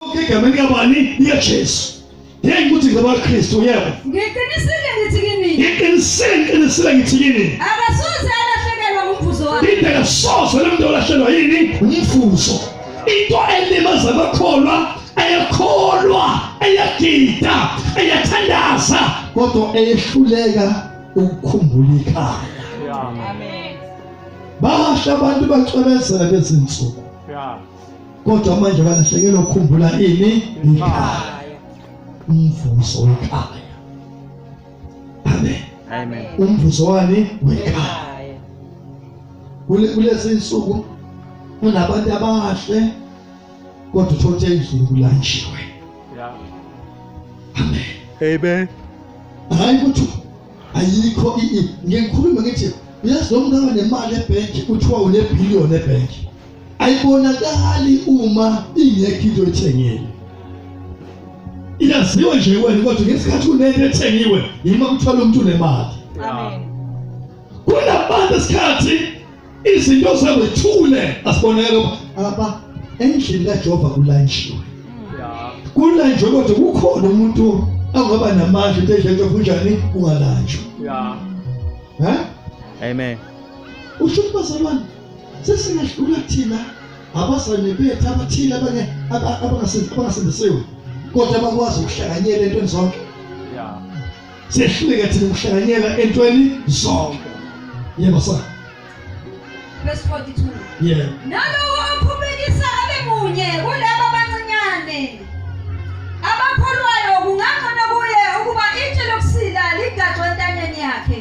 egameni kabani likaJesu ngeke ukuthi ngabaKristu yebo ngiqinisile ngithi kini ngiqinisile ngiqinisile ngithi kini akasoze alahlekelwa ngumvuzo wakhe into akasoze lemuntu olahlekelwa yini umvuzo into elimaza abakholwa ayakholwa ayagida ayathandaza kodwa eyehluleka ukukhumbula ikhaya amen basha abantu bacwebezela bezinsuku yeah kodwa manje balahlekelwa ukukhumbula ini ikhaya umvuzo wekhaya amen amen umvuzo wani wekhaya kulezi insuku kunabantu abahle kodwa uthothe endlini kulanjiwe amen amen hayi ukuthi ayikho ngikhuluma ngithi uyazi lo mntana nemali ebhenki kuthiwa unebhiliyoni ebhenki ayibonakali uma ingekho into ethengile iyaziwa nje wena kodwa ngesikhathi kunento ethengiwe yima kuthola umuntu unemali amen kunabantu esikhathi izinto zabo ithule asibonakala aba endlini kaJehova kulanjiwe kulanjwe kodwa kukhona umuntu angaba namandla into edleke kunjani ungalanjwa yeah ha amen usho bazalwane sesingahlula thina abazane bethu abathile abanye abangasindisiwe kodwa bakwazi ukuhlanganyela entweni zonke sehluleka thina ukuhlanganyela entweni zonke yebo sa verse 42 yeah nalowo ophumekisa abe munye kulabo abancinyane abakholwayo kungangcono kuye ukuba itshe lokusila ligadwe entanyeni yakhe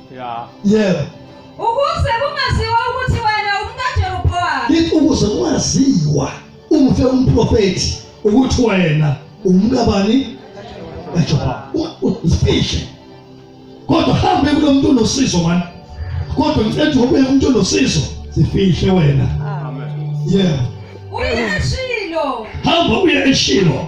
ya yebo ukuze kungaziwa ukuthi wena umkaJerobowamu lithi ukuze kungaziwa umfe umprofethi ukuthi wena umkabani kaJerobowamu ufihle kodwa hambe kulo muntu onosizo mani kodwa ngicela ukuthi ngobe umuntu onosizo sifihle wena amen yebo uye eshilo hamba uye eshilo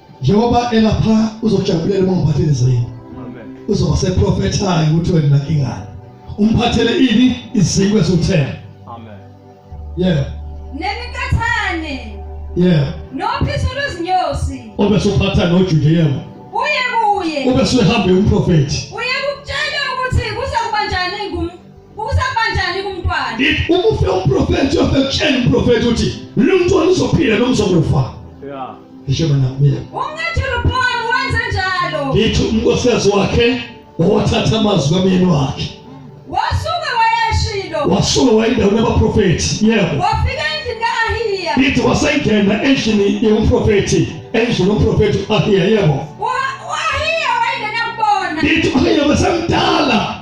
njengoba elapha uzojabulela uma umphathele izwini uzoba seprofethayo ukuthi wena nakingani umphathele ini iziko esuthela amen yeah nemikathane yeah nophiso lwezinyosi obesuphatha nojude yebo uye kuye obesehamba umprofeti uye Kusabanjani kumntwana? Ukufe umprofeti uyofekutshela umprofeti uthi lo mntwana uzophila noma uzokufa. Yeah. Ngisho mina mina. Umnethulu Paul wenze njalo. Ngithi umkosikazi wakhe owathatha amazwi kamyeni wakhe. Wasuke wayashilo. Wasuke wayendawo nabaprofeti. Yebo. Wafika endlini ka-Ahiya. Ngithi wasengena endlini yomprofeti. Endlini yomprofeti u-Ahiya yebo. Wa-Ahiya wayengena kubona. Ngithi u-Ahiya besemdala.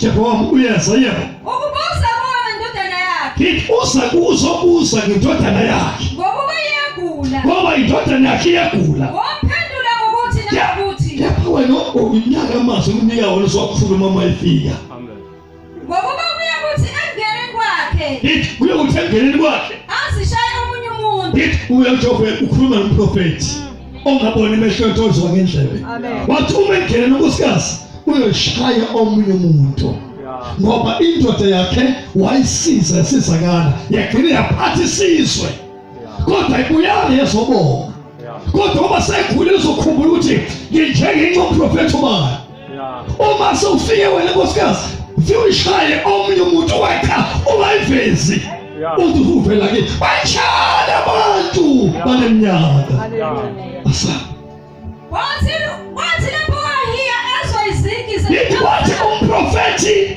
Jerobowamu uyeza yebo ukubusa kuwona indodana yakhe ngithi uza kuzobusa ngindodana yakhe ngokuba iyagula ngoba indodana yakhe iyagula wamphendula ngokuthi nakuthi kepha wena unyaka amazi umnika wona sokukhuluma uma ifika ngokuba kuya kuthi engene kwakhe ngithi kuya kuthi engene kwakhe azishaye omunye umuntu ngithi uya nje ukhuluma nomprofeti ongaboni emehlweni tozwa ngendlebe wathi uma engena nonkosikazi uyoshaya omunye umuntu ngoba indoda yakhe wayisiza esizakala yagcina yaphatha isizwe kodwa ibuyanga yezobonga kodwa uma sekhulile uzokhumbula ukuthi nginjengenxa umprofethi ubayo uma sewufike wena nkosikazi siwushaye omunye umuntu wetha ungayivezi uthi uvela ke banjani abantu banemnyaka asa wathi wathi lapho wahiya ezwa izigi wathi umprofethi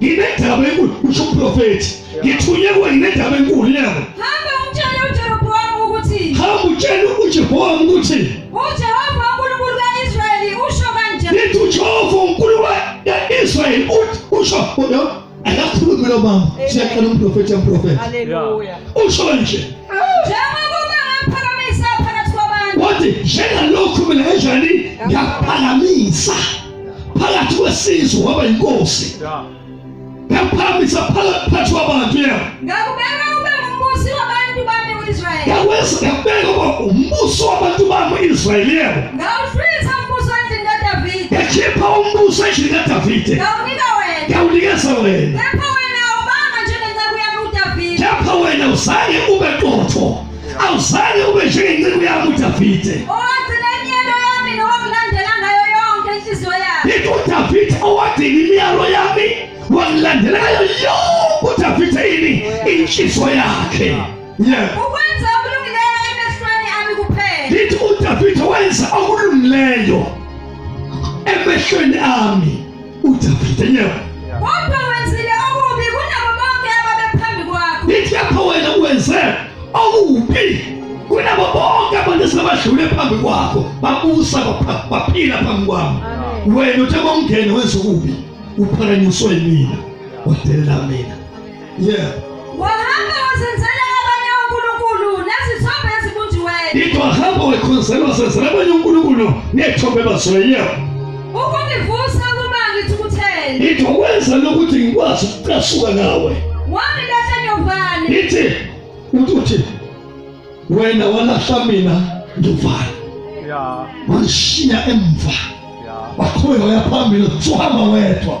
nginendaba enkulu usho uprofethi ngithunywe kuwe nginendaba enkulu yabo hamba umtshele uJerobowamu ukuthi hamba utshele uJerobowamu ukuthi uJehova uNkulunkulu kaIsrayeli usho kanje nithi uJehova uNkulunkulu kaIsrayeli usho akakhulumi lo mama siyaqala umprofethi amprofethi haleluya usho kanje wathi njengalokhu mina enjani ngiyaphakamisa phakathi kwesizwe waba yinkosi ngakuphambisa phakathi kwabantu yena ngakubeka ube umbusi wabantu bami uIsrael ngakwenza ngakubeka ube umbusi wabantu bami uIsrael yena ngawuhlwitha umbuso endlini kaDavid ngakhipha umbuso endlini kaDavid ngawunika wena ngawunikeza wena kepha wena awubanga njengenceku yami uDavid kepha wena uzange ube qotho Awuzange ube njengenceku yami uDavide. Owathi nemiyalo yami nowakulandela ngayo yonke inhliziyo yami. Yikho uDavide owadinga imiyalo yami wakulandela ngayo yonke uDavide yini inhliziyo yakhe. Yeah. Ukwenza okulungileyo emehlweni ami kuphela. Yithi uDavide wenza okulungileyo emehlweni ami. Udavide nyawo. Kodwa wenzile okubi kunabo bonke ababephambi kwakho. Ithi lapho wena wenze okubi kunabo bonke abantu esebadlule phambi kwakho babusa baphila phambi kwami. Wena uthe bongene wenza okubi uphakanyiswe mina. Wadelela mina. yeah wahamba wazenzela abanye onkulunkulu nezithombe ezibunjiweyo into ahamba wekhonzela wazenzela abanye onkulunkulu nethombe bazweyo ukungivusa ukuba ngithukuthele into wenza lokuthi ngikwazi ukucasuka ngawe wami lahle nyovane ithi uthi wena walahla mina nduvana yeah. wanishiya emva yeah. wakhuleka uyaphambili suhamba wedwa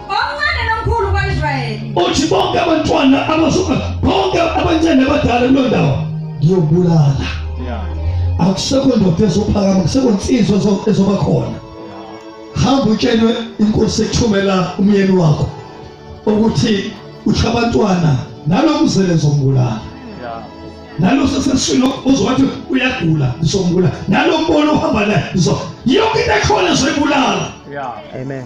omncane nomkhulu kwaIsrayeli uthi bonke abantwana abasuka bonke abancane abadala kulo ndawo ngiyobulala akusekho ndoda ezophakama kusekho nsizwa ezoba khona hamba utshelwe inkosi ekuthumela umyeni wakho ukuthi usho abantwana nalokuzele zombulala nalo sesesilo uzowathi uyagula ngizombulala nalo mbono uhamba naye yonke into ekhona zoyibulala amen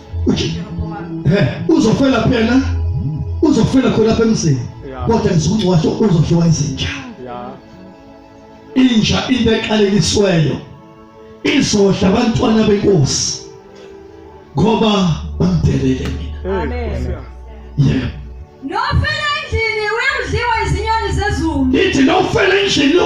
uzofela phela uzofela khona lapha emzini kodwa ngizokungcwa washo uzodliwa izinja inja into eqalekisweyo izodla abantwana benkosi ngoba bamdelele mina amen yeah nofela endlini uyamdliwa izinyoni zezulu ithi nofela endlini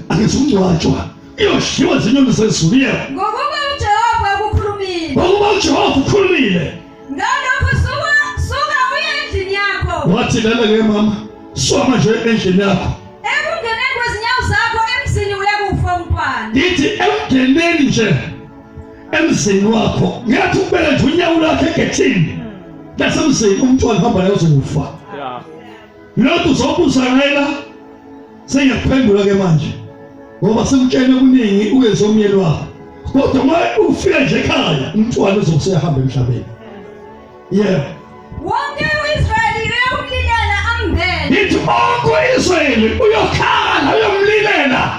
akuzungcwatshwa iyodliwa izinyoni zezulu yebo ngokuba uJehova ukukhulumile ngokuba uJehova ukhulumile ngalokho suka suka uye endlini yakho wathi lana ke mama suka manje endlini yakho ekungeneni kwezinyawo zakho emzini uyakufa umntwana ithi emngeneni nje emzini wakho ngiyathi ukubeka nje unyawo lakhe egethini lasemzini umntwana hamba naye uzokufa Ngilothi uzokuzakela sengiyakuphendula ke manje ngoba sikutshele kuningi uyenze umyeni wakho kodwa uma ufika nje ekhaya umntwana uzokuseyahamba emhlabeni yebo wonke u-israyeli uyomlilela ambele ngithi onke u-israyeli uyokhala uyomlilela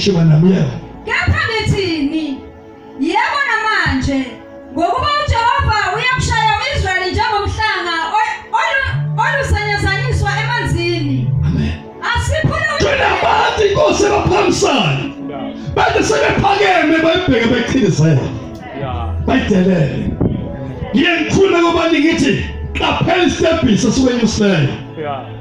Kusho banamleo. Kepha ngithini? Yebo namanje ngokuba uJehova uyakushaya uIsrayeli njengomhlanga olusenyazanyiswa emanzini. Amen. Asiphule unabantu inkosi ebaphambisayo. Bade sebephakeme bayibheke beqhinisela. Bayidelele. Ngiyengifuna kuba ngithi qaphela isitebhisi esiwenyusileyo. Yeah.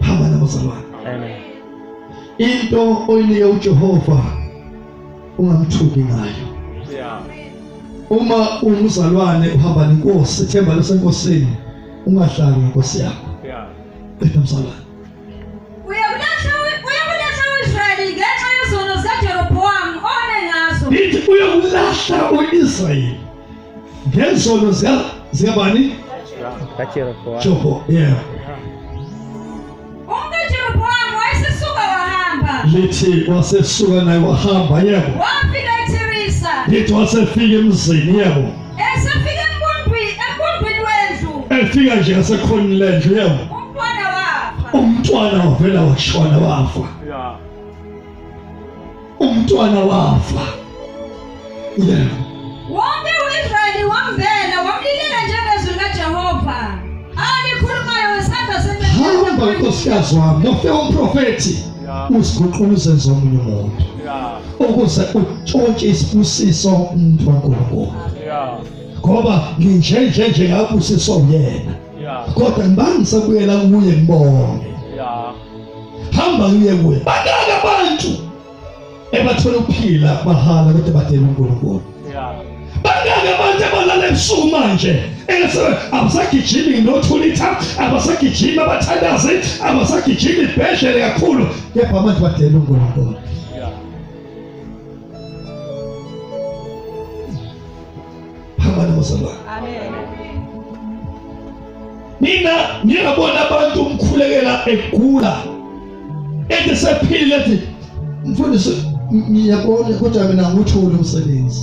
phamba nabazalwane amen into oyinike uJehova ungamthuki ngayo uma umzalwane uhamba nenkosi ethemba lasenkosini ungahlali ngenkosi yakho bethwa mzalwane Israel. ngezono zikabani kaJerobowamu yeah uJerobowamu wayesesuka wahamba lithi wasesuka naye wahamba yebo wafika eTirisa lithi wasefika emzini yebo esefika enkundwini enkundwini wendlu efika nje asekhona lendlu yebo umntwana wafa umntwana wavela washona wafa yeah umntwana wafa yeah. wonke u-israyeli wambhela wamlilela njengezwi likajehova alikhulumayo ngesandla sehamba nkosikazi wami nofe umprofethi uziguqula uzenze omunye umuntu ukuze utshontshe isibusiso umuntu wankulunkulu ngoba nginjenje nje ngabusiswa uyena kodwa ngibangise kuyela kuye ngibone hamba ngiye kuye banaka abantu ebathola ukuphila mahala kodwa badela uNkulunkulu banaka abantu abalala ebusuku manje abasagijimi nothulitha abasagijimi abathandazi abasagijimi ibhedlele kakhulu kepha manje badela uNkulunkulu phambana bazalwane mina ngingabona abantu umkhulekela egula ethi sephilile ethi mfundisi ngiyabona kodwa mina ngithole umsebenzi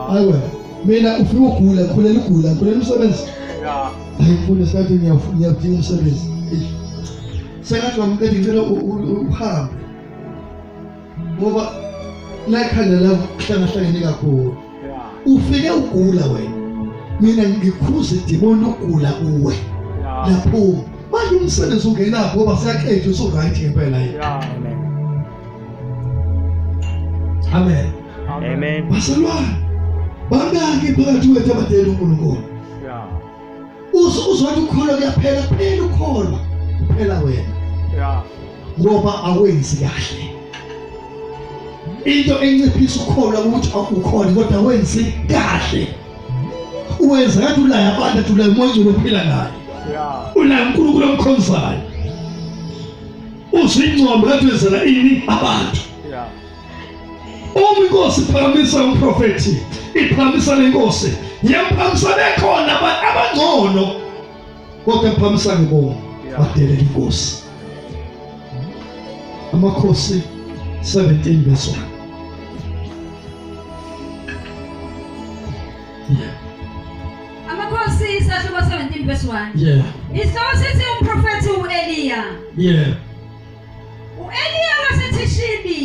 hayi wena mina ufike ugula khulela ugula khulela umsebenzi hayi mfundisi kade ngiyafuna umsebenzi sengathi bamqeda ngicela uhambe ngoba layikhanda lakuhlangahlangene kakhulu ufike ugula wena mina ngikhuze idimoni ugula kuwe lapho manje umsebenzi ungenapho ngoba siyaqeda usu right ngempela yini amen amen amen baselwa bangaki phakathi kwethu abadela uNkulunkulu uzothi ukholo kuyaphela kuphela ukholo kuphela wena ya ngoba awenzi kahle into enciphisa ukholo ukuthi akukhona kodwa awenzi kahle uwenza ngathi ulaya abantu athi ulaya umoya ophila naye ulaya uNkulunkulu omkhonzayo uzingcombe ngathi wenzela ini abantu Uma inkosi iphakamisa umprofethi, iphakamisa lenkosi, yemphakamisa bekhona abangcono. Kodwa imphakamisa ngibonga badelela inkosi. Amakhosi 17 verse 1. Amakhosi isahluko 17 verse 1. Yeah. Isihloko sithi umprofethi uEliya. Yeah. U-Eliya waseThishibi,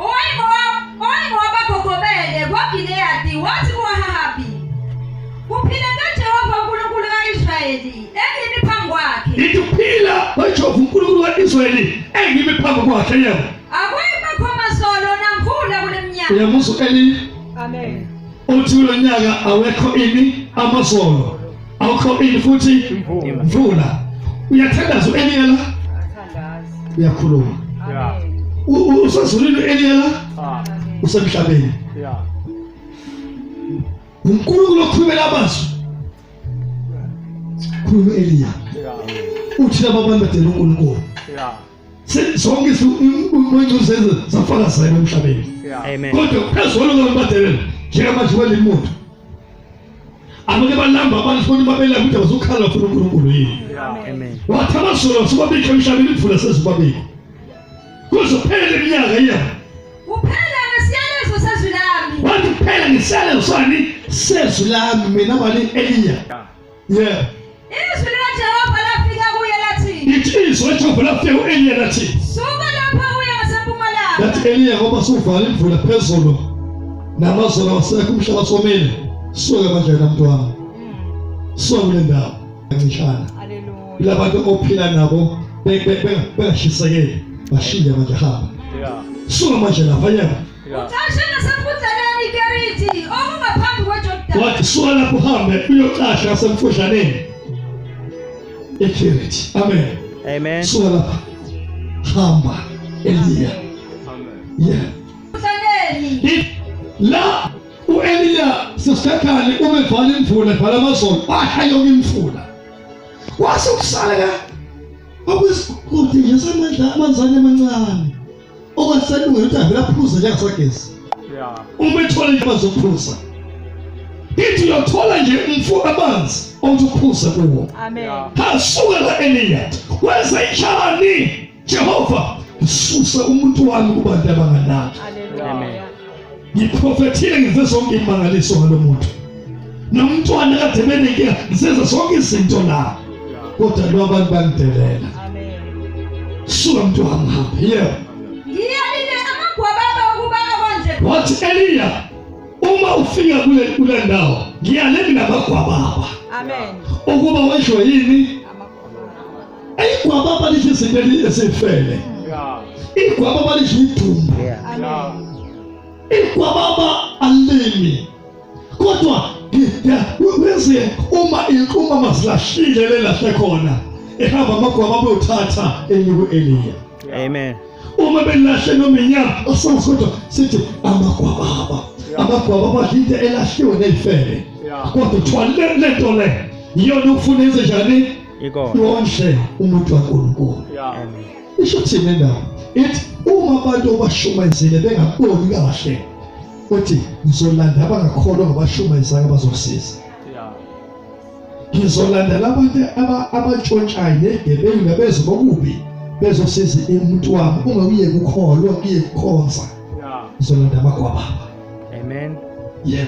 owayengowa- owayengowabagogobele kwaGileyadi, wathi kuAhabi, Kuphile kaJehova uNkulunkulu ka-Israyeli, engimi phambi kwakhe. ithi ukuphila kwejehova unkulunkulu ka-israyeli engimi phambi kwakhe yebo Akuyibakho masolo namvula kule mnyaka. uyamuzwa u-eliya Amen. uthi kulo nyaka awekho ini amazolo awukho ini futhi mvula uyathandaza u-eliya la uyakhuluma usezulwini u-eliya la ah. usemhlabeni unkulunkulu okhulumela abazwi khuluma u-eliya uthi laba abantu badela unkulunkulu sonke sikuncuze safaka sebe emhlabeni amen kodwa phezulu ngombadelela njengamanje kwaleli muntu abanye balamba abantu futhi babela ukuthi bazokhala futhi uNkulunkulu yini amen wathi abasolo sibabikho emhlabeni imvula sezibabikho kuzophela iminyaka iyabo kuphela ngesiyalezo sezwi lami wathi kuphela ngesiyalezo sani sezwi lami mina bani eliya yeah izwi likaJehova lafika kuye lathi ithi izwi likaJehova lafika kuEliya lathi suka lapha uye ngasempumalanga lathi Eliya ngoba suvala imvula phezulu namazolo wasekho umhlaba somile suka manje namntwana suka kule ndawo kancishana ilabantu ophila nabo bengashisekeli bashinge manje hamba suka manje lapha yena Ucashe nasemfudlaneni iKeriti okungaphambi kweJordani. Wathi suka lapho uhambe uyocasha nasemfudlaneni iKeriti. Amen. Amen. Suka lapha. Hamba Eliya. Amen. Yeah. Mfudlaneni. La uEliya sesikhali uma evala imvula evala amazolo washa yonke imfula. Wase ukusala ka. Akwesikude ngesamandla amanzane amancane. owaseluyo uthi avele aphuze njengasagesi uma ethola into bazophuza ithi uyothola nje umfo amanzi othi uphuze kuwo hasuka la eliyat wenza injani jehova ngisuse umuntu wami kubantu abanganaki ngiprofethile ngize zonke imangaliso ngalo muntu nomntwana kade benenkinga ngisenza zonke izinto la kodwa lo abantu bangidelela suka mntu wami hambe yebo ngiyalile amagwababa ukuba awandle wathi eliya uma ufika kule kule ndawo ngiyalele namagwababa amen ukuba washwe yini igwaba abalisho izinto ezifele igwaba abalisho idumbu igwaba aba alimi kodwa wenze uma inquma masilashile lelahle khona ehamba amagwaba abeyothatha enyuku eliya amen uma belahle noma inyama asazi kodwa sithi amagwababa amagwaba abadla into elahliwe neyifele kodwa kuthiwa le nto le yiyona ufuna enze njani ikona wonke umuntu waNkulunkulu amen isho thina la ithi uma abantu obashumayezile bengaboni kahle uthi ngizolanda abangakholwa ngabashumayezanga bazokusiza ngizolanda labantu abatshontshayo negebengu nabezo bokubi bezosiza umuntu wami uma uye kukholwa kuye kukhonza ngizolanda abakwa baba amen yeah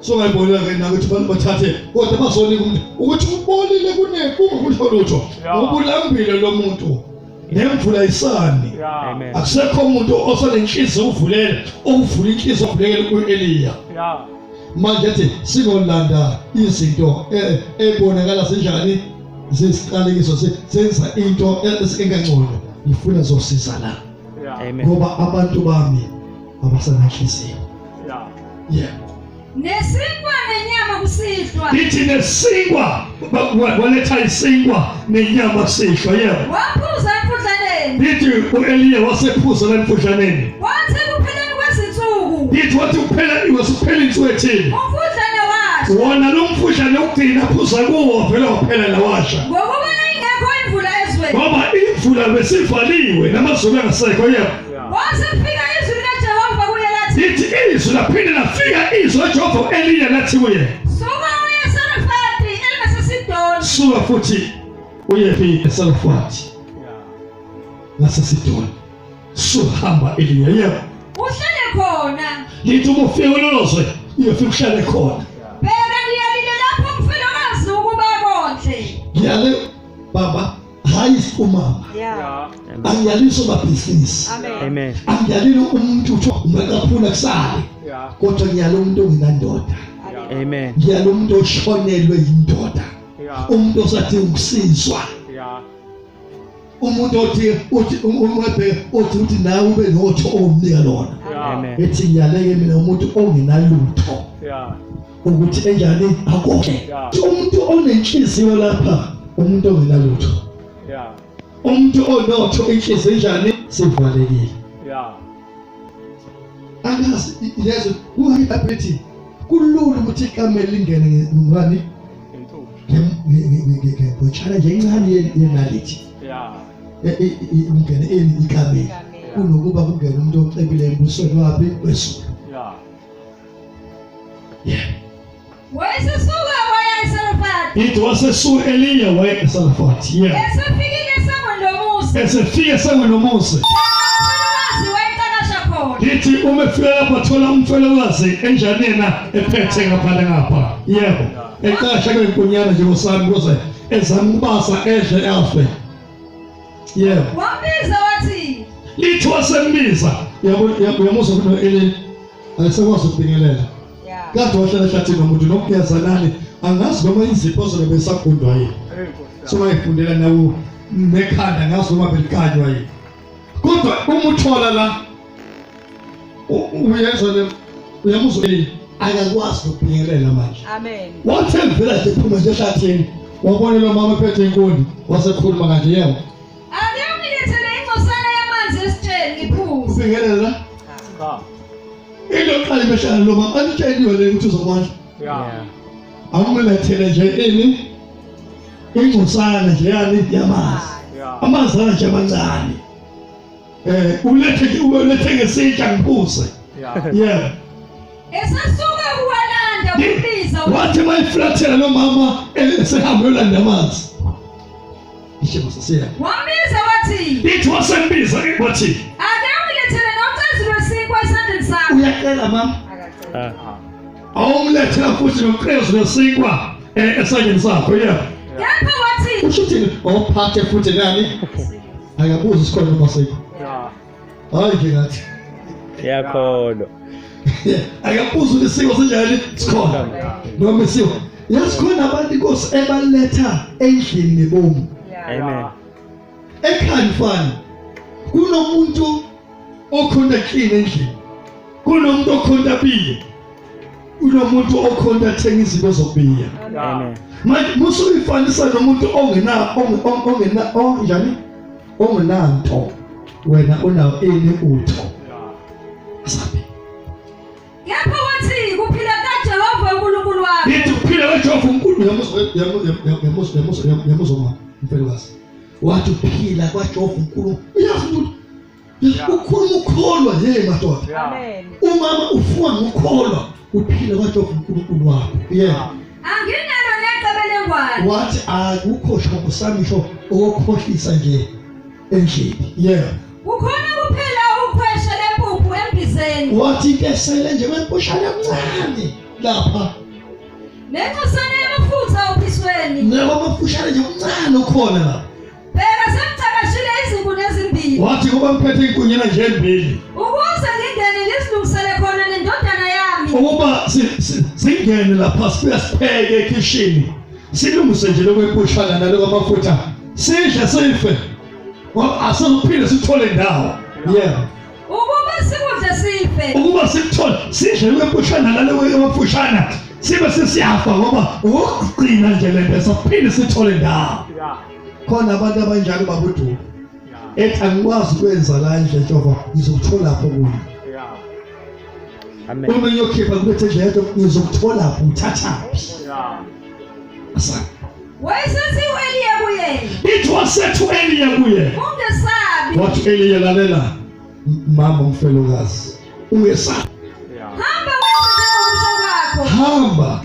so ngayibonela ke nakuthi abantu bathathe kodwa bazonika umuntu ukuthi ubolile kunekukusho lutho ubulambile lo muntu nemvula isani akusekho umuntu osanenhliziyo uvulele ukuvula inhliziyo ovulekele ku-eliya manje ethi singolanda izinto ebonakala e, zinjani zesiqalekiso senza into e, engangcono ngifuna zosizana ngoba abantu bami abasenahliziyo yeah yeah nesinkwa nenyama kusihlwa ithi nesinkwa waletha isinkwa nenyama sihlwa yebo waphuza emfudlaneni ithi uEliya wasephuza emfudlaneni wathi kupheleni kwezinsuku ithi wathi kuphela wasipheleni insuku ethini umfudlane washa wona lo mfudlane ukugcina phuza kuwo vele waphela lawasha ngokuba ingekho imvula ezweni ngoba imvula besivaliwe namazulu angasekho yebo Wasefika izwi likaJehova kuye lathi. Lithi izwi laphinde lafika izwi likaJehova elinye lathi kuye. Suka uye eSarefati elingaseSidoni. Suka futhi uye phi eSarefati ngaseSidoni. Suhamba elinye yebo. Uhlale khona. Lithi uma ufika kulolo zwe uyofika uhlale khona. Bheka ngiyalile lapho mfelokazi ukuba konhle. Ngiyale baba hayi sikumama angiyalisi umabhizinisi angiyalile umuntu kuthiwa ungakaphula kusale kodwa ngiyala umuntu ongenandoda ngiyala umuntu oshonelwe yindoda umuntu osathi ukusizwa umuntu othi uthi umwebhe othi uthi nawe ube notho omnika lona ethi ngiyaleke mina umuntu ongenalutho ukuthi enjani akonke umuntu onenhliziyo lapha umuntu ongenalutho umuntu onotho inhliziyo enjani sivalekile angazi yezo kuyiability kulula ukuthi ikamela lingene ngani ngibotshana nje incane yenalithi ungene ikamela kunokuba kungene umuntu ocebile embusweni waphi wesulu wayesesuka waya eSarefati ithi wasesuka eliya waya eSarefati yeah esefike esangweni lomuzi esefike esangweni lomuzi ithi uma efika lapha thola umfelokazi enjani yena ephethe ngaphandle ngapha yebo eqasha kwenkonyana nje kosami kuze ezama ukubasa edle afe yebo wambiza wathi lithi wasembiza yabo yabo yamuzwa kuno elini ayisekwazi ukubingelela kade wahlala ehlathini nomuntu nokugeza nani angazi noma izipho zobe besagundwa yini so wayifundela nawo nekhanda ngazi noma belikanywa yini kodwa uma uthola la uyezwa le uyamuzwa yini akakwazi ukubingelela manje amen wathi ngivela nje phuma nje ehlathini wabona lo mama ephethe inkuni wasekhuluma kanje yebo Ake ungilethele ingcosana yamanzi esitsheni ngiphuze. Singelela. Cha. Into yokuqala imeshana lo mama anitsheliwe le ukuthi uzokwazi. Yeah. Awumlethele nje ini ingcosana nje yani yamanzi. Yeah. Amanzi nje amancane. Eh ulethe ulethe ngesitsha ngiphuze. Yeah. Yeah. Esasuka kuwalanda kubiza. Wathi mayiflathela lo mama eh, esehamba yolanda amanzi. Ishema sasiya. Wambiza wathi. Ithi wasembiza ke wathi. Ake umlethele nocazi lwesikwa esandleni sakho. Uyacela mama. Akacela. Ah. Awumlethela futhi nocazi lwesikwa eh, esandleni sakho yeah. Kepha wathi. Usho ukuthi ophathe futhi nani? Akabuzi isikhona uma sikho. hayi ke ngathi yakholwa akabuza ukuthi isiko sinjani sikhona noma isiko yazi khona abantu inkosi ebaletha endlini nebomu amen ekhaya mfana kunomuntu okhonta clean endlini kunomuntu okhonta biye kunomuntu okhonta thenga izinto zokubiya amen manje musuyifanisa nomuntu ongena ongena onjani ungenanto wena unawo ini utho sabi kepha wathi kuphila kaJehova uNkulunkulu wakho yithi kuphila kaJehova uNkulunkulu yamuzo yamuzo yamuzo mama mfelokazi wathi uphila kwaJehova uNkulunkulu uyazi ukuthi ukhuluma ukholwa yena madoda umama ufuwa ngokholwa uphile kodwa uNkulunkulu wakho yeah anginalo necebelengwane wathi akukho shoko sami sho okukhohlisa nje endlini yeah ukhona kuphela ukhweshe lempuphu embizeni wathi into esele nje kwempushana emncane lapha nencosana yamafutha ophisweni nabo amafushane nje omncane ukhona lapha Bheka sengicakashile izinkuni ezimbili. Wathi kuba ngiphethe izinkonyana nje ezimbili. Ukuze ngingene ngizilungisele khona nendodana yami. Ukuba singene lapha sibuya sipheke ekhishini. Silungise nje lokwepushana naloko amafutha. Sidle sife. Ngoba asiphinde sithole ndawo. Yebo. Ukuba sikudle sife. Ukuba sikuthole sidle lokwepushana naloko amafushana. Sibe sesiyafa ngoba ukugcina nje lento sophinde sithole ndawo. khona abantu abanjalo babuduka ethi angikwazi ukwenza la nje Jehova ngizokuthola lapho kuyo Amen. Uma ngiyokhipha kubethe nje yedwa ngizokuthola lapho uthathaphi. Asa. Wayesethi uEliya kuye. It was said to Eliya kuye. Ungesabi. What Eliya lalela mama umfelokazi. Ungesabi. Hamba wenze njengokusho kwakho. Hamba.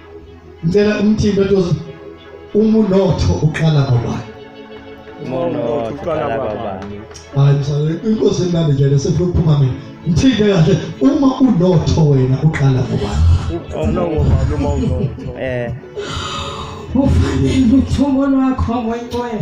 ngicela umthimba tozo uma unotho uqala ngobani uma unotho uqala ngobani hayi msale inkosi emnandi nje lesifuna ukuphuma mina ngithinte kahle uma unotho wena uqala ngobani uma unotho eh ufanele uthungo lwakho ngoyinqwele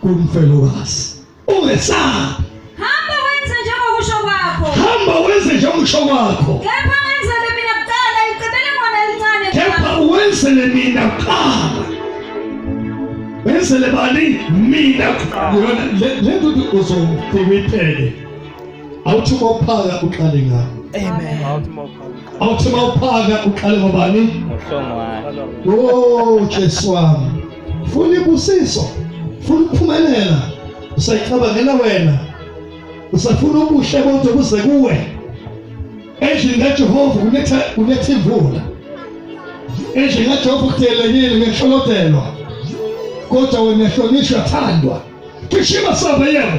kumfelokazi ungesabi hamba wenze njengokusho kwakho hamba wenze njengokusho kwakho kepha ngenzele mina kuqala icebele ngona elincane kepha wenzele mina kuqala wenzele bani mina kuqala le nto uzofike awuthi uphaka uqale ngakho Amen. Awuthi mawuphaka uqale ngobani? Uhlongwane. Oh Jesu wami. funa ibusiso funa ukuphumelela usayicabangela wena usafuna ubuhle bonke buze kuwe endlini kaJehova kunetha kunetha imvula endlini kaJehova kudelekile ngehlolotelwa kodwa wena hlonishwa thandwa kishima save yebo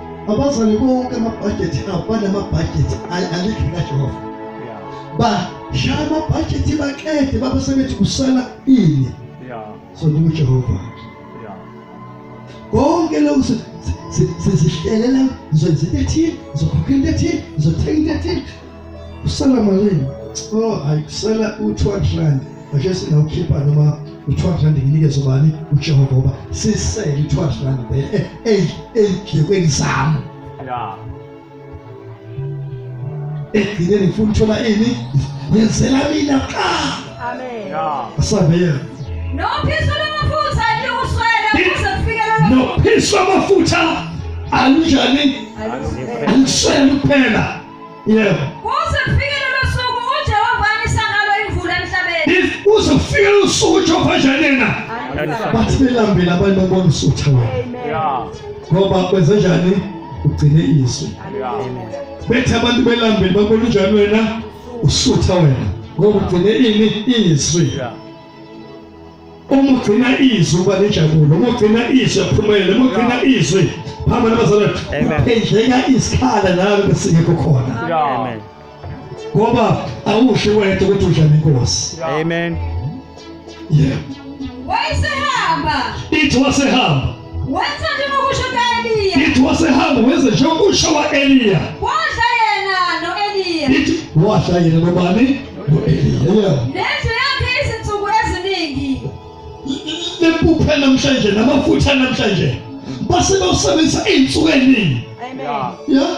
Abazali bonke amabhajethi abo banamabhajethi alikhi kaJehova. Bashaya amabhajethi baqede baba sebethi kusala ini. So ndiwuJehova. Konke lokhu sizihlelela ngizokwenza into ethile, ngizokhokha into ethile, ngizothenga into ethile Usela malini? Oh, hayi usela u-200 rand. Ake singawukhipha noma u-200 rand nginikeze ubani uJehova ngoba sisele u-200 rand vele eh, eh, ezidlekweni zami. Yeah. Ekugcineni eh, ngifuna uthola ini? Ngenzela mina qa. Amen. Yeah. Asabeye. No phisa amafutha likuswele ukuze kufikelele. No phisa amafutha alinjani? Aluswele kuphela. yebo kuze kufike lelo suku uJehova anisa ngalo imvula emhlabeni kuze kufike lelo suku uJehova janena bathi belambile abantu babona usutha wena ngoba kwenze njani ugcine izwi bethi abantu belambile babona unjani wena usutha wena ngoba ugcine ini izwi uma ugcina izwi uba nenjabulo uma ugcina izwi aphumelele uma ugcina izwi phamba nabazalwane kuphendleka isikhala nalo besingekho khona ngoba awusho wena ukuthi udla nenkosi amen yeah wayesehamba ithi wasehamba Wenza njengokusho kuka-Eliya. Ithi wasehamba wenza njengokusho kwa-Eliya. Wadla yena no-Eliya. Ithi wadla yena nobani? No-Eliya. Nendlu yakhe izinsuku eziningi. Impuphe namhlanje namafutha namhlanje base bawusebenzisa iy'nsuku ey'ningi. Amen. Yeah.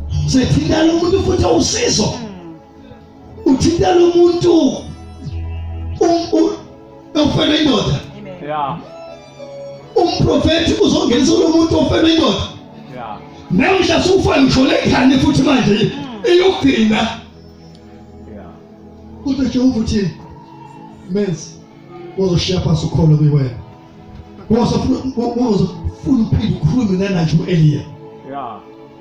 sethintela umuntu futhi usizo uthintela umuntu ofela indoda yeah umprofeti uzongenisa lo muntu ofela indoda yeah namhla sufa ngisho lekhani futhi manje iyogcina yeah kodwa Jehova uthini menzi uzoshiya phansi ukholo kuwena wozofuna wozofuna uphinde ukhulume nanathi u-Eliya yeah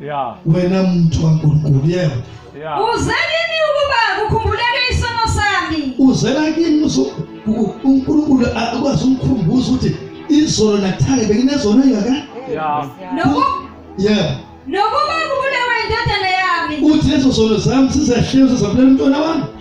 Yeah. Wena muntu waNkulunkulu yebo. Yeah. Uze kimi ukuba kukhumbuleke isono sami. Uzela kimi uNkulunkulu akwazi ukukhumbuza ukuthi izolo nakuthake benginezono yaka. Yeah. Noku. Yeah. Nokuba kubulewe indodana yami. Uthi lezo zono zami sizehlelo zabulela umntwana wami.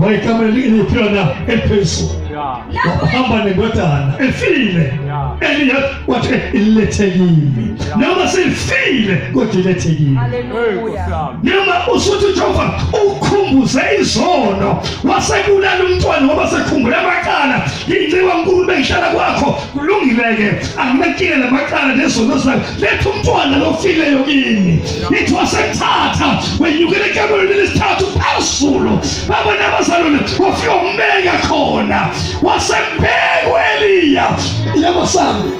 wayekamele ilipiyona eliphezulu wahamba nendodana efile eliya wathi ilethe kimi noma sifile kodwa ilethe kimi noma usuthi jehova ukhumbuze izono wasebulala umntwana ngoba sekhumbula amacala nginciwa nkulu bengihlala kwakho kulungile-ke anginakile namacala nezono zakho letha umntwana lofileyo kimi ithi wasemthatha wenyukele ekamerweni lesithathu phezulu baba nabazalwane wafika umbeka khona wasembeka ueliya yebo sami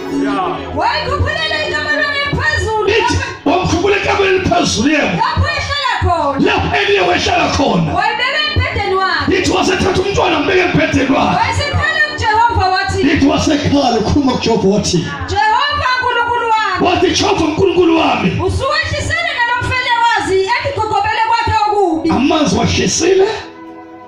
wayikhuphulele ekamerweni eliphezulu ithi wamkhuphula ekamerweni eliphezulu yebo lapho ehlala khona lapho eliye wehlala khona wayibeka embhedeni wakhe ithi wasethatha umntwana mbeke embhedeni wakhe wayesekhala kujehova wathi ithi wasekhala ukhuluma kujehova wathi Jehova Nkulunkulu wami. Wathi Jehova Nkulunkulu wami. Usuwehlisile nalomfele wazi ekugogobele kwakhe okubi. Amanzi wahlisile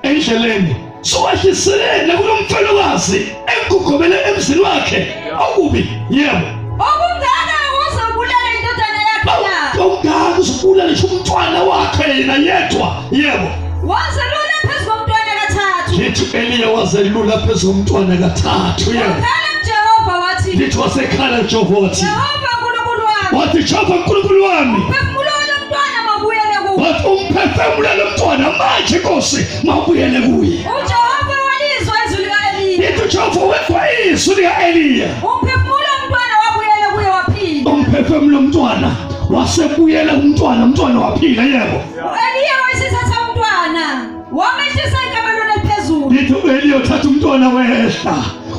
endleleni. Suwehlisile nakulomfele wazi ekugogobele emzini wakhe okubi. Yebo. Okungaka uzobulala indodana yakhe. Okungaka uzobulala umntwana wakhe yena yedwa. Yebo. Wazelula phezu komntwana kathathu. Lithi Eliya wazelula phezu komntwana kathathu. Wakhala kuJehova wathi. Lithi wasekhala kuJehova wathi. Jehova uNkulunkulu wami. Wathi Jehova uNkulunkulu wami. Phefumulo lomntwana mabuyele kuwe. Wathi umphefumulo lomntwana manje Nkosi mabuyele kuye. UJehova walizwa izwi lika Eliya. Lithi uJehova wezwa izwi lika Eliya. Umphefumulo mntwana wabuyele kuye waphila. Umphefumulo mntwana wasebuyela kumntwana umntwana waphila yebo U-Eliya wayesethatha umntwana wamehlisa ekamelweni eliphezulu. Ngithi u-Eliya uthatha umntwana wehla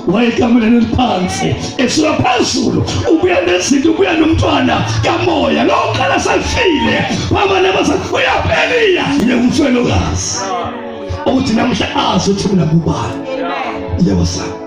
wayekameleni eliphansi esuka phezulu ubuya nezinto ubuya nomntwana kamoya lowo khala safile babana basakubuya pheliya yile umfelokazi okuthi namhla azi ukuthi mina kubani yebo sami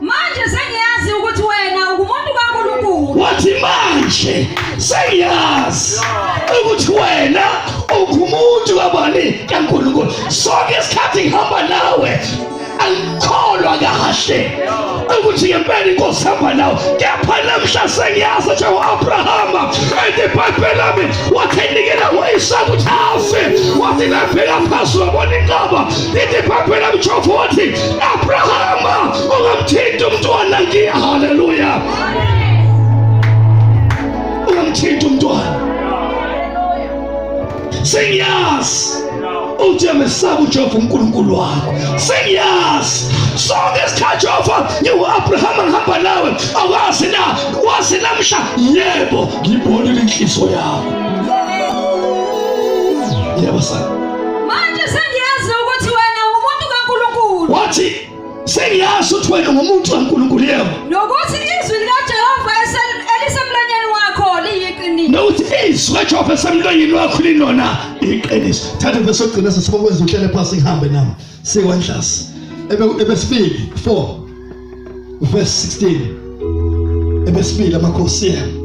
Manje sengiyazi ukuthi wena ungumuntu kaNkulunkulu. Wathi manje sengiyazi ukuthi wena ungumuntu kabani kaNkulunkulu. Sonke isikhathi ngihamba nawe angikholwa kahle ukuthi ngempela inkosi hamba nawo kepha namhla sengiyazi ukuthi u-abrahama endibhayibheli lami wathi enikela ngoyisaka ukuthi afe wathi nabheka phasi wabona inqaba ithi ibhayibheli lami jehova wathi Abrahama ungamthinta umntwana ngiya. Haleluya. Ungamthinta umntwana. Sengiyazi uthi amesaba uJehova uNkulunkulu wakho sengiyazi sonke isikhathi Jehova ngiwu-Abraham ngihamba nawe awazi na wazi namhla yebo ngibonile inhliziyo yakho yebo sana Manje sengiyazi ukuthi wena ungumuntu kaNkulunkulu. Wathi sengiyazi ukuthi wena ungumuntu kaNkulunkulu yebo. Nokuthi izwi likaJehova elisemlonyeni wakho liyiqiniso. Nokuthi izwi kaJehova esemlonyeni wakho linona iqiniso. Thatha bese ugcina sesibokwenza uhlele phansi ngihambe nami. Sikwanhlasi. Ebe ebesifiki 4 verse 16. Ebesifiki amakhosi yena.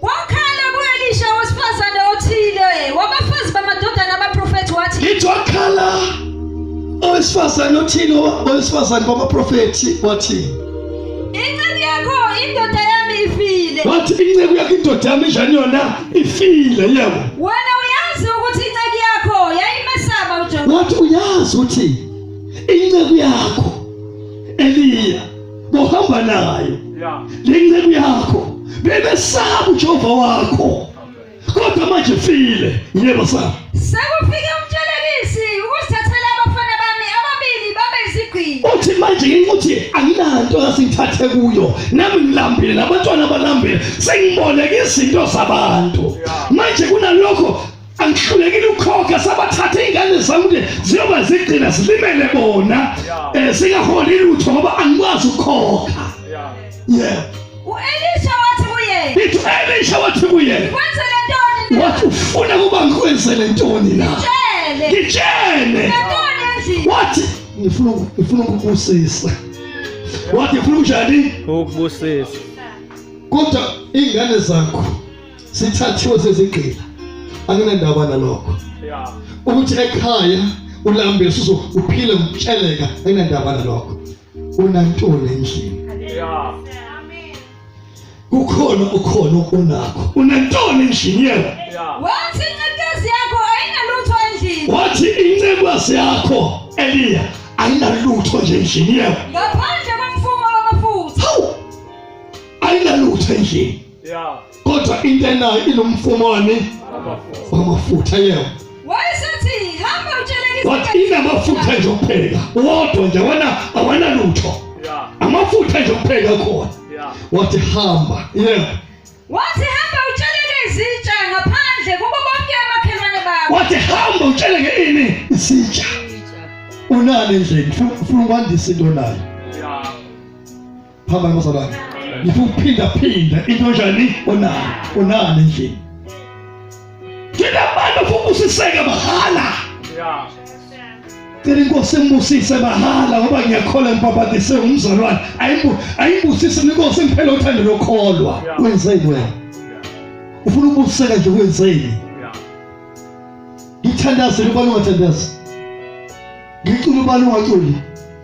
Kwakhala kuElisha owesifazane othile wabafazi bamadodana abaprofethi wathi. Ithi wakhala owesifazane othile owesifazane babaprofethi wathi. Inceku yakho indoda yami ifile. Wathi inceku yakho indoda yami njani yona ifile yebo. Wena uyazi ukuthi inceku yakho yayimesaba uJehova. Wathi uyazi ukuthi inceku yakho Eliya bohamba nayo lenceku yakho bebesaba uJehova wakho kodwa manje file yebo sa sekufike umtshelelisi ukusithathela abafana bami ababili babe izigqili uthi manje nginguthi anginanto ngasithathe kuyo nami ngilambile nabantwana balambile sengiboneke izinto zabantu manje kunalokho angihlulekile ukukhokha sabathatha iy'ngane zami ukuthi ziyoba zigcina zilimele bona um eh, zingaholi lutho ngoba angikwazi ukukhokha ye u-elisha wathi kuye ithi u-elisha wathi kuye kwenzele ntoni wathi ufuna ukuba ngikwenzele ntoni na ngitshele wathi ngifuna ngifuna ukubusisa wathi ngifuna ukujani ukubusisa kodwa iy'ngane zakho sithathiwe sezigqila anginandaba nalokho ukuthi ekhaya ulambe usuzo uphile ngitsheleka enandaba nalokho unantoni endlini kukhona ukhona onakho unantoni endlini yena wathi incebezi yakho ayinalutho endlini wathi incebezi yakho eliya ayinalutho nje endlini yena ngaphandle komfumo wamafutha ayinalutho endlini yeah kodwa into enayo inomfumo wami wamafutha yebo wayesethi hamba utsheleke wathi inamafutha nje okupheka wodwa nje wena awanalutho yeah amafutha nje okupheka khona yeah wathi hamba yebo wathi hamba utsheleke izitsha ngaphandle kubo bonke amakhelwane bakho wathi hamba utsheleke ini isitsha unani endlini funa ukwandisa into nayo yeah phambana bazalwane ngifuna ukuphinda phinda into njani onani onani endlini thina bantu funa ubusiseke mahala cela inkosi imbusise mahala ngoba ngiyakholwa ngibhabhadise umzalwane ayimbusise inkosi ngiphele uthando lokholwa wenzeni wena ufuna ukubusiseka nje wenzeni ngithandazile ubani ungathandazi ngicula ubani ungaculi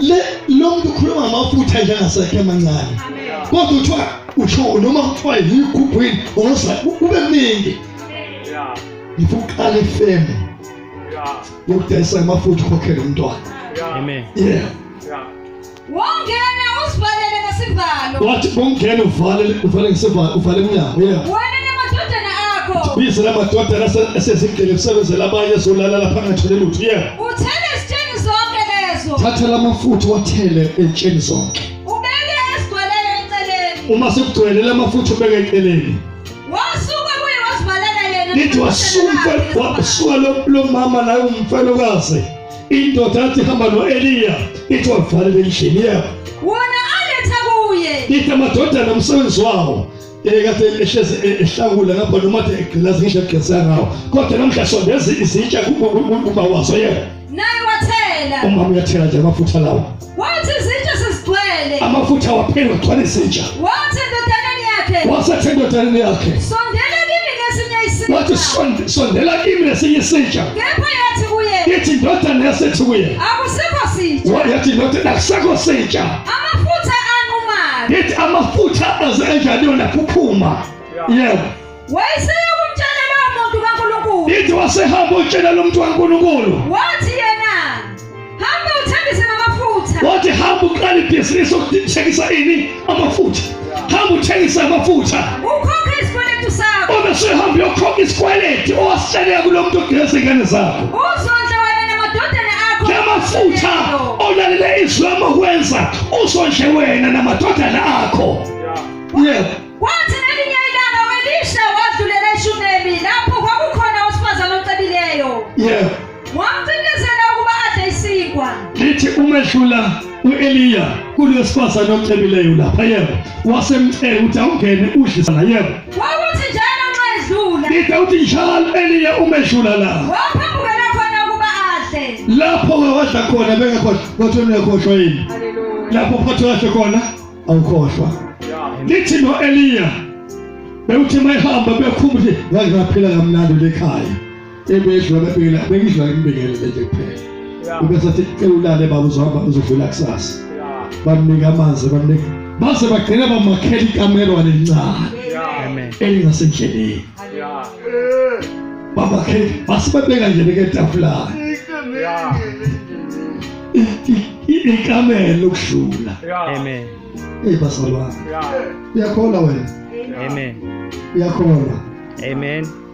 le lo muntu ukhuluma ngamafutha nje angasekho amancane kodwa kuthiwa usho noma kuthiwa yigubhwini oza kube mningi ngifuna uqala ifemu yokudayisa amafutha ukhokhele umntwana amen yeah wongena usivalele ngesivalo wathi bongena uvale uvale ngesivalo uvale emnyango yeah wena namadodana akho bize lamadodana asezigcile kusebenzela abanye ezolala lapha angathole lutho yeah Uthele ezitsheni zonke lezo. Thatha lamafutha wathele ezitsheni zonke. Ubeke esigwaleni eceleni. Uma sekugcwele lamafutha ubeke eceleni. Wasuka kuye wasivalela yena. Nithi wasuka wasuka lo mama naye umfelokazi. Indoda yathi hamba noEliya. Ithi wavala endlini yakhe. Wona aletha kuye. Ithi amadodana umsebenzi wawo. ekade ehlezi e, ehlakula ngapha noma athe egqilazi ngisho egqisa ngawo kodwa namhla sondeza izitsha kuba waso yena naye wathela umama uyathela nje amafutha lawa wathi izitsha sezigcwele amafutha waphela wagcwala izitsha wathi endodaneni yakhe wasethi endodaneni yakhe sondela kimi ngesinye isitsha wathi sondela kimi ngesinye isitsha kepha yathi kuye ithi ndodana yasethi kuye akusikho sitsha wathi ndodana akusikho sitsha Amafutha anqumayo. Ngithi amafutha aze kanjani yona kuphuma. Yebo. Wayeseya kumtshela lowo muntu kaNkulunkulu. Ngithi wasehamba utshela lo muntu kaNkulunkulu. Wathi yena hamba uthengise amafutha. Wathi hamba uqale ibhizinisi okuthengisa ini amafutha. hamba uthengise amafutha ukhokhe isikweletu sakho obesehamba uyokhokha isikweleti owasihleleka kulo muntu ogeza ingane zakho uzondla wena namadodana akho namafutha olalele izwi lami okwenza uzondle wena namadodana akho yebo kwathi nelinye ilanga welisha wadlulela eshunemi lapho kwakukhona owesifazane ocebileyo yebo wamphindisela ukuba adle isinkwa lithi umehlula u-eliya kulo sifazane omcebileyo lapha yebo wasemcela ukuthi awungene udlisa la yebo wakuthi njalo nxa edlula lithi uthi njalo eliya umehlula la waphamukela khona ukuba adle lapho-ke wadla khona bengekhohlwa kodwa ungekhohlwa yini lapho phathe kahle khona awukhohlwa lithi no-eliya bewuthi mayihamba bekhumbuthi ngaze ngaphila kamnandi lekhaya ebedlula bebhekela bengidlula imbekele nje kuphela ube sathi cela ulale baba uzohamba uzovela kusasa bamnika amanzi bamnika base bagcina bamakhela ikamerwane elincane elingasendleleni babakhela base babeka nje beketafulana ikamelo lokudlula amen hey basalwana uyakholwa wena amen uyakholwa amen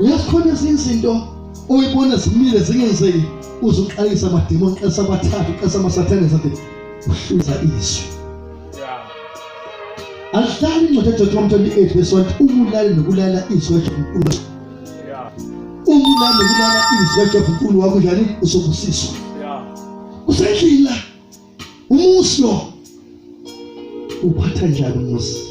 uyazikhona ezinye izinto oyibona zimile zingenzeki uze uqalisa amademoni uqalisa abathathu uqalisa amasathane zathi uhluza izwi alihlali incwadi yaJohn 28 verse 1 umulale nokulala izwi kaJohn umulale nokulala izwi kaJohn uNkulunkulu wakho njani usokubusiswa usendlila umusi lo uphatha njani umusi